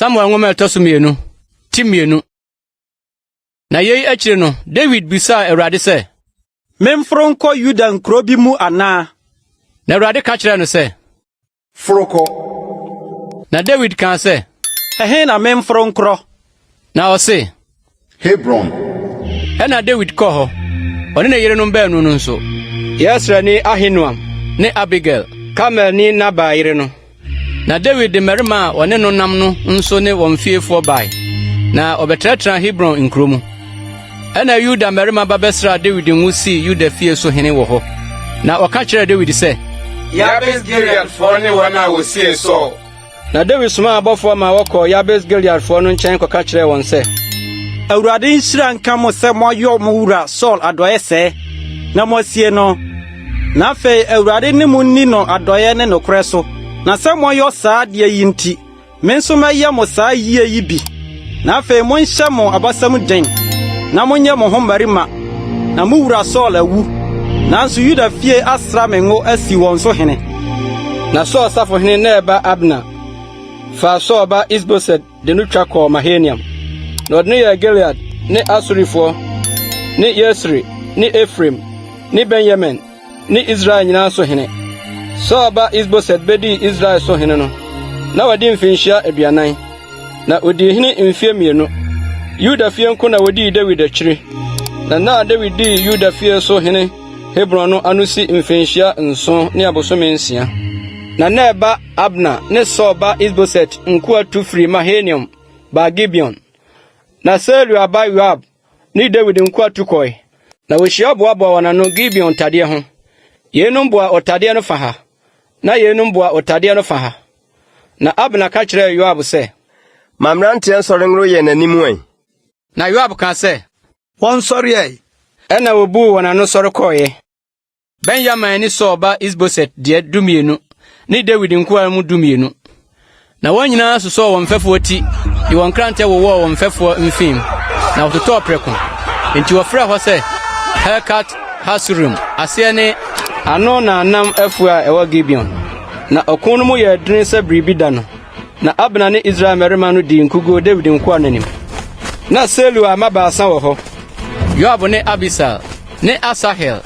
samuel nwoma a ɛtɔ so mmienu ti mmienu na yei akyiri no dawid bisaa awurade sɛ memforo nkɔ yuda nkuro bi mu anaa na awurade ka kyerɛɛ no sɛ Foro kɔ. Na Dawid kaa sɛ. Ɛhe na memforo nkorɔ? Na ɔse. Hebron. Ɛnna Dawid kɔɔ hɔ, ɔne ne yerenom baanu no nso. Yesreelni Ahinoam. Ne Abigail. Karmelni Nabal yere no. Na Dawid de mmarima a wɔne no nam no nso ne wɔn fiefoɔ bae, na wɔbɛtenatenaa Hebron nkuro mu. Ɛnna Yuda mmarima ba bɛsraa Dawid ngo sii Yuda fie so hene wɔ hɔ. Na wɔka kyerɛɛ Dawid sɛ, Yabes-Gileadfoɔ ne wɔn a wɔsiee Saul. Na Dawid somaa abɔfoɔ ma wɔkɔɔ Yabes-Gileadfoɔ no nkyɛn kɔka kyerɛɛ wɔn sɛ, Awurade nhyira nka mo sɛ moayɔ mo wura Saul adɔeɛ sɛɛ, na moasie no. Na afei Awurade ne mo nni no adɔeɛ ne nokorɛ so, na sɛ moayɔ saa adeɛ yi nti, Me nso mɛyɛ mo saa yie yi bi. Na afei monhyɛ mo abasam den, na monyɛ mo ho mmarima, na mo wura Saul awu, nanso Yuda fie asra me ngo asi wɔn so hene. Na Saul safohene Ner ba Abner faa Saul ba Is-Boset de no twa kɔɔ Mahanaim, na ɔde no yɛɛ Gilead ne Asurifoɔ ne Yesreel ne Efraim ne Benyamin ne Israel nyinaa so hene. Saul ba Is-Boset bedii Israel so hene no, na wadi mfirihyia aduanan, na odii hene mfe mmienu. Yuda fie nko na wodii Dawid akyiri, na na Dawid dii Yuda fie so hene Hebron no ano si mfirihyia nson ne abosome nsia. Na Ner ba Abner ne Saul ba Is-Boset nkoa tu firii Mahanaim baa Gibeon. Na Seruia ba Yoab ne Dawid nkoa tu kɔe, na wohyia boaboa wɔn ano Gibeon tadeɛ ho. Yeinom boa ɔtadeɛ no fa ha, na yeinom boa ɔtadeɛ no fa ha. Na Abner ka kyerɛɛ Yoab sɛ. Ma mmeranteɛ nsɔre nworo yɛn anim ɛ. Na Yoab kaa sɛ. Wɔnsɔre ɛ. Ɛnna wɔbuu wɔn ano sɔre kɔeɛ. Benyamin ne Saul ba Isboset deɛ dumienu ne Dawid nkoa no mu dumienu. Na wɔn nyinaa sosɔɔ wɔn mfɛfoɔ ti de wɔn nkrantɛ wowɔɔ wɔn mfɛfoɔ mfeem, na wɔtotɔɔ prɛko. Enti wɔfrɛɛ hɔ sɛ Helkat Hasurim, aseɛ ne, Ano na nam afuo a ɛwɔ Gibeon. Na ɔko no mu yɛɛ dene sɛ biribi da no. Na Abner ne Israel mmarima no dii nkoguo Dawid nkoa no anim. Na Seruia mma baasa wɔ hɔ, Yoab ne Abisal ne Asahel.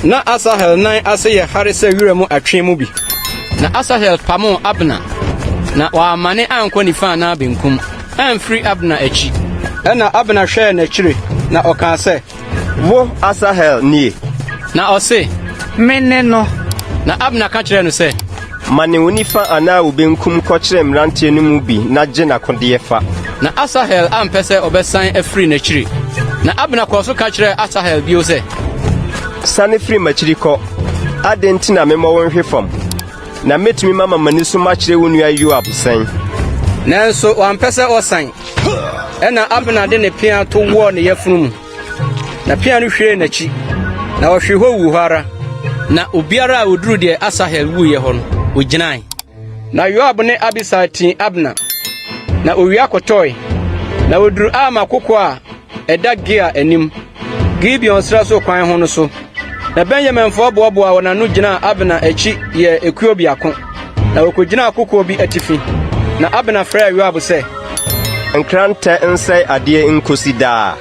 Na Asahel nan ase yɛ hare sɛ wira mu atwe mu bi. Na Asahel pamoo Abner, na wammane ankɔ nifa anaa benkum amfiri Abner akyi. Ɛnna Abner hwɛɛ n'akyiri, na ɔkaa sɛ. Wo Asahel nie? Na ɔse, Mene no. Na Abner ka kyerɛɛ no sɛ. Mane wo nifa anaa wo benkum kɔkyerɛ mmeranteɛ no mu bi na gye n'akodeɛ fa. Na Asahel ampɛ sɛ ɔbɛsan afiri n'akyiri. Na Abner kɔɔ so ka kyerɛɛ Asahel bio sɛ. Sane firi m'akyiri kɔ. Adɛn nti na memmɔ wo nhwe fam? Na mɛtumi mama m'ani so makyerɛ wo nua Yoab sɛn? Nanso wampɛ sɛ ɔsan. Ɛnna Abner de ne pea to wɔɔ ne yafunu mu, na pea no hwiee n'akyi, na ɔhwee hɔ wuu hɔ ara. Na obiara a oduru deɛ Asahel wuiɛ hɔ no, ogyinae. Na Yoab ne Abisai tee Abner, na owia kɔtɔe. Na oduru Alma kokoa a Ɛda Gia anim, Gibeon srɛ so kwan ho no so. Na Benyaminfoɔ boaboaa wɔn ano gyinaa Abner akyi yɛɛ ekuo biako, na wɔkɔgyinaa kokoɔ bi atifi. Na Abner frɛɛ Yoab sɛ. Nkrantɛ nsɛe adeɛ nkosi daa.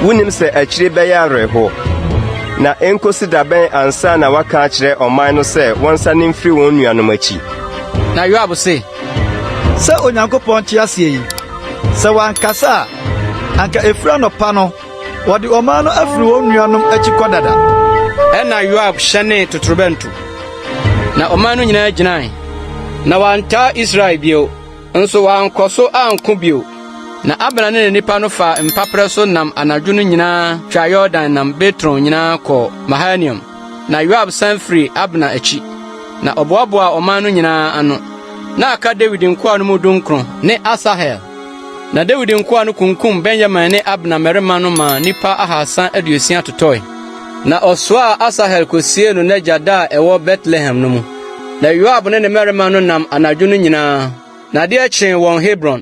Wonim sɛ akyire bɛyɛ awerɛhoɔ. Na ɛnkosi da bɛn ansa na woaka akyerɛ ɔman no sɛ wɔnsane mfiri wɔn nuanom akyi? Na Yoab se. Sɛ Onyankopɔn te aseɛ yi, sɛ wankasa a, anka ɛfiri anɔpa no wɔde ɔman no afiri wɔn nuanom akyi kɔ dada. Ɛnna Yoab hyɛnee totorobɛnto, na ɔman no nyinaa gyinae, na wɔantaa Israel bio, nso wɔankɔ so anko bio. Na Abner ne ne nnipa no faa mpaperɛ so nam anadwo no nyinaa twaa Yordan nam Bitron nyinaa kɔɔ Mahanaim. Na Yoab san firii Abner akyi, na ɔboaboaa ɔman no nyinaa ano. Na aka Dawid nkoa no mu dunkron ne Asahel. Na Dawid nkoa no kunkum Benyamin ne Abner mmarima no maa nnipa ahaasa aduosia totɔe. Na ɔsoaa Asahel kosiee no n'agya da a ɛwɔ Betlehem no mu. Na Yoab ne ne mmarima no nam anadwo no nyinaa, na adeɛ kyee wɔn Hebron.